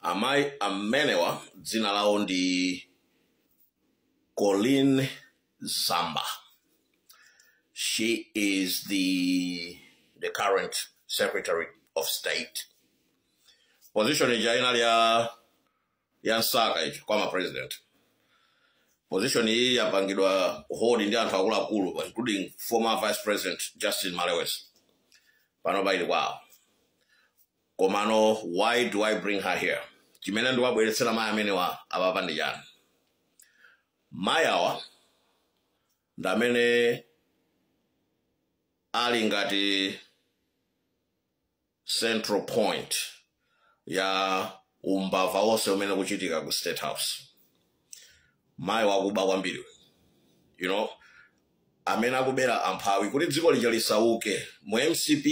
amayi amenewa dzina lawo ndi colleen zamba she is the the current secretary of state position ija inali ya nsaka ija kwa president position iyi yapangidwa hold ndi anthu akuluakulu including former vice president justin malewezi panopa ili kwawo komano why do i bring her here chimene ndiwabweretsera mayi amenewa apapa ndi chani mayi awa ndi amene ali ngati central point ya umbava wonse umene ukuchitika ku state house mayi wakuba kwambiri you know amene akubera amphawi kuti dziko lija lisauke mu mcp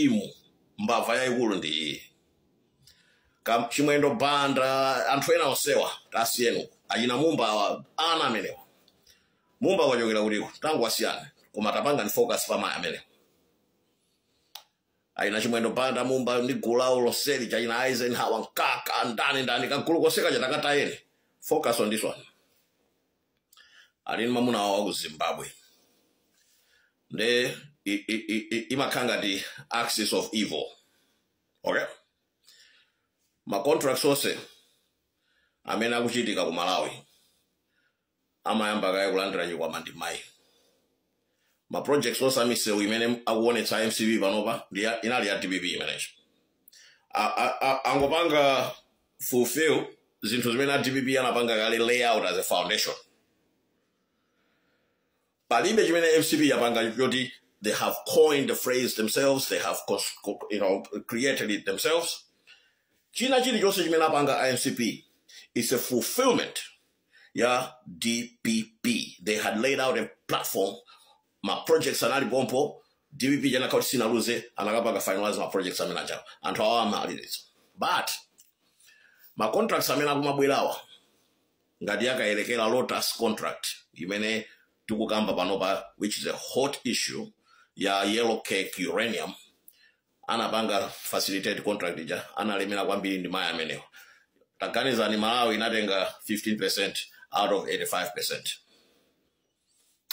mbava yayikulu ndi iyi Kam- chimwendo banda anthu ena onsewa tawasiyeni uko achina mumba awa ana amenewa mumba wachokera kutiko tangowasiyani koma tapangani focus pa mayi amenewa achina chimwendo banda mumba ndi gulu lawo lonseli achina eisenhower mkaka ndani ndani kagulu konseka takatayeni focus on this one ali ndi mamuna wawo wa ku zimbabwe nde i- i- i- i- imakhala ngati axis of evil okay ma contracts onse amene akuchitika ku malawi amayamba kaye kulandira chikwama ndi mayi ma projects onse a misewu imene akuonetsa a mcp panopa ndi ya- inali ya dpp imeneyo A- a- a- angopanga fulfill zinthu zimene a dpp anapanga kale lay out as a foundation palibe chimene mcp yapanga choti they have coined the phrase themselves they have cons- co- you know, created it themselves china chilichonse chimene apanga a mcp is a fulfillment ya dpp they had laid out a platform ma projects anali pompo dpp chinakhala kuti sinaluze akanapanga finalize ma projects amene ajawo anthu awa amalizitsa but ma contracts amene akumabwerawa ngati ya Kayelekera Lotus contract imene tikukamba panopa which is a hot issue ya yellow cake uranium anapanga facilitate contract ija analemera kwambiri ndi mayi amenewa taganizani malawi inatenga 15 percent out of 85 percent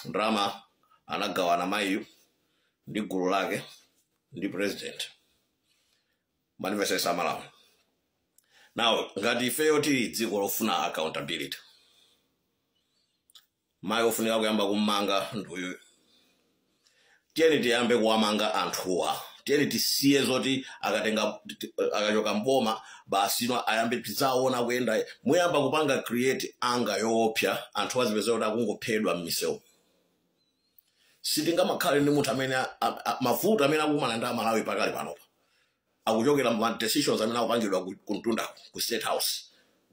ndalama anagawana mayiyu ndi gulu lake ndi president mwandimvetsetsa amalawi now ngati ifeyo tili dziko lofuna accountability mayi ofunika kuyamba kummanga nduyu tiyeni tiyambe kuwamanga anthuwa tiyeni tisiye zoti akatenga akachoka mboma basi no ayambe tizaona kuyenda muyamba kupanga create anger yoopsa anthu azipezeka kuti akungophedwa m'misewu sitingamakhale ndi munthu amene a- a- a- mavuto amene akukumana nawo amalawi pakali panopa akuchokera ma decisions amene akupangidwa ku- kumtundako ku state house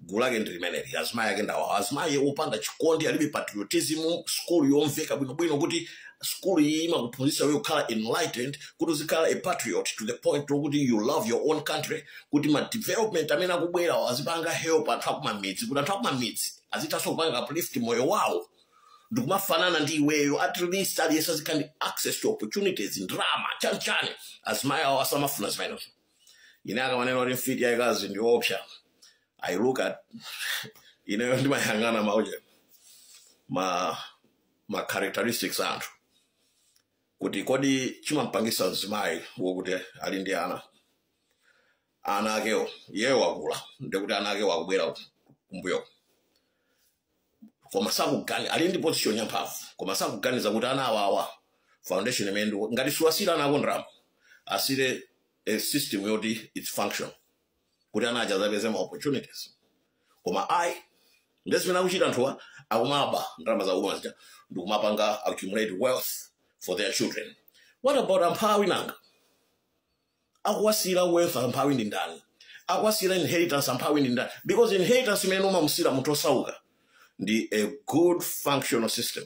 gulu lake ndi limeneli azimayi ake ndawawa azimayi opanda chikondi alibe patriotism skulu yomveka bwinobwino kuti skulu iyi imakuphunzitsa iwe kukhala enlightened kuti uzikhala a patriot to the point lokuti you love your own country kuti madevelopment amene akubwerawo azipanga help anthu akumamidzi kuti anthu akumamidzi azithanso kupanga uplift moyo wawo ndikumafanana ndi iweyo at least aliyense azikhala ndi access to opportunities ndrama chanichani azimayi awo asamafuna zimenezo ine akamanena kuti mfiti yayikazi ndi yoopsa i look at ineyo ndimayang'ana mauje ma ma characteristics a anthu kuti kodi chimampangisa mzimayi wokuti ali ndi ana ana akewo iyeyo wakula ndekuti ana akewo akubwera kumbuyo koma sakugani ali ndi position ya mphamvu koma sakuganiza kuti ana awawa foundation imene ndi ngati suwasiyira ana ako ndrama asiyire a system yoti it functions kuti ana aja azapeze ma opportunities koma ayi nde zimene akuchita anthuwa akumaba ndalama za uma zija ndikumapanga accumulate wealth for their children what about amphawi nanga akuwasiyira wealth amphawi ndi ndani akuwasiyira inheritance amphawi ndi ndani because inheritance imene umamusiyira munthu osauka ndi a good functional system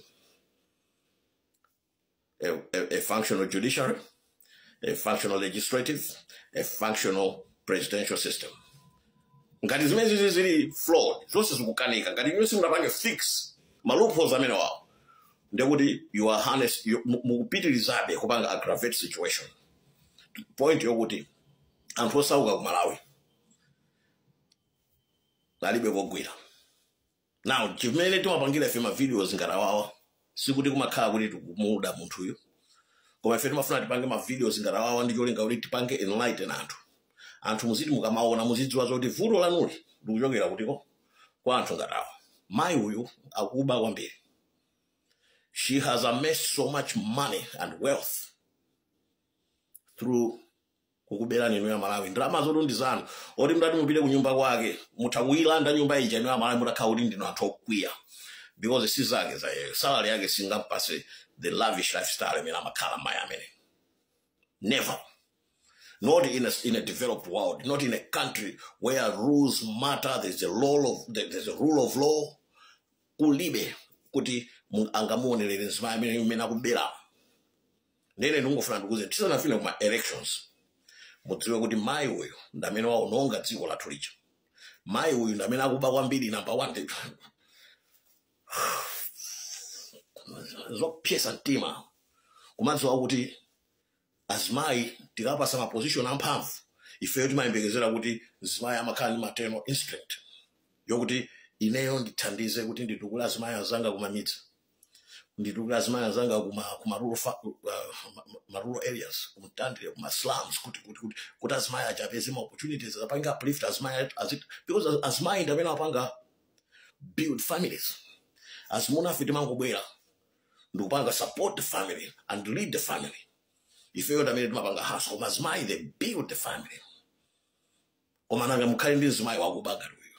a, a, a functional judiciary a functional legislative a functional presidential system ngati zimene zizi zili flawed zonse zikukanika ngati inuyo simunapange fix ma loopholes amenewawo ndekuti you are harness you- mu- mukupitirizabe kupanga aggravate situation point yokuti anthu osauka ku malawi alibe kogwira now chimene timapangira ife mavideos ngati awawa sikuti kumakhala kuti tikumuda munthuyo koma ife timafuna tipange mavideos ngati awawa ndi cholinga kuti tipange enlighten anthu anthu muziti mukamaona muzidziwa zoti vuto lanu likuchokera kutiko kwa anthu ngati awa mayi uyu akuba kwambiri she has amassed so much money and wealth through kukuberani inu a Malawi ndalama zotu ndi zanu oti mutati mupite ku nyumba kwake mutha kuyilanda nyumba ija inu a Malawi mutakhala kuti ndinu anthu okwiya because si zake za iye salary yake singampase the lavish lifestyle imene amakhala mayi amene never not in a, in a developed world, not in a country where rules matter. There's a rule of there- there's a rule of law. Kulibe kuti mu- angamuonelere nzimai amene imene akubera nde ine ndikungofuna ndikuuzeni tisanafike kuma elections mudziwe kuti mayi uyu ndi amene waononga dziko lathu lija mayi uyu ndi amene akuba kwambiri number one zopsetsa mtima kumadziwa kuti azimayi tikawapatsa maposition amphamvu ifeyo timayembekezera kuti azimayi amakhala ndi maternal instinct yokuti ineyo ndithandize kuti nditukule azimayi anzanga kumamidzi nditukule azimai anzanga kuma kuma rural fa- uh, ma- ma- ma rural areas kumtandire kuma slums kuti kuti kuti kuti azimai azapeze ma opportunities apange uplift azimai azit because az- azimai ndamene amapanga build families azimunafe timangobwera ndikupanga support the family and lead the family ifeyo ndamene timapanga hustle koma azimai they build the family koma nanga mukhale ndi mzimayi wakuba ngati uyu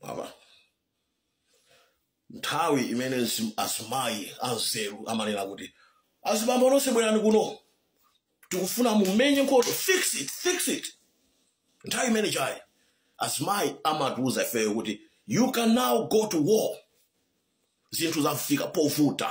Mama. nthawi imene mzi- azimayi anzeru amanena kuti azibambo nonse bwerani kuno tikufuna mumenye nkhondo fix it fix it nthawi imene chani azimayi amatiuza ifeyo kuti you can now go to war zinthu zafika povuta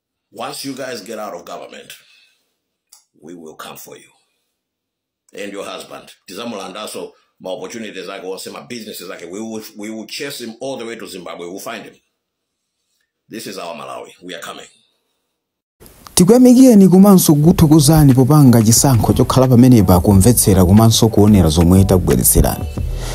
Once you guys get out of government, we will come for you and your husband. Tizamulandaso ma opportunities ake onse ma businesses ake. We will we will chase him all the way to Zimbabwe. We'll find him. This is our Malawi. We are coming. tikuyamikireni komanso kukuthokozani popanga chisankho chokhala pamenepa kumvetsera komanso kuonera zomwe takubweretserani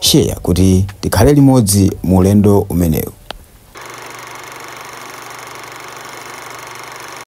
share kuti tikhale limodzi mu ulendo umenewu.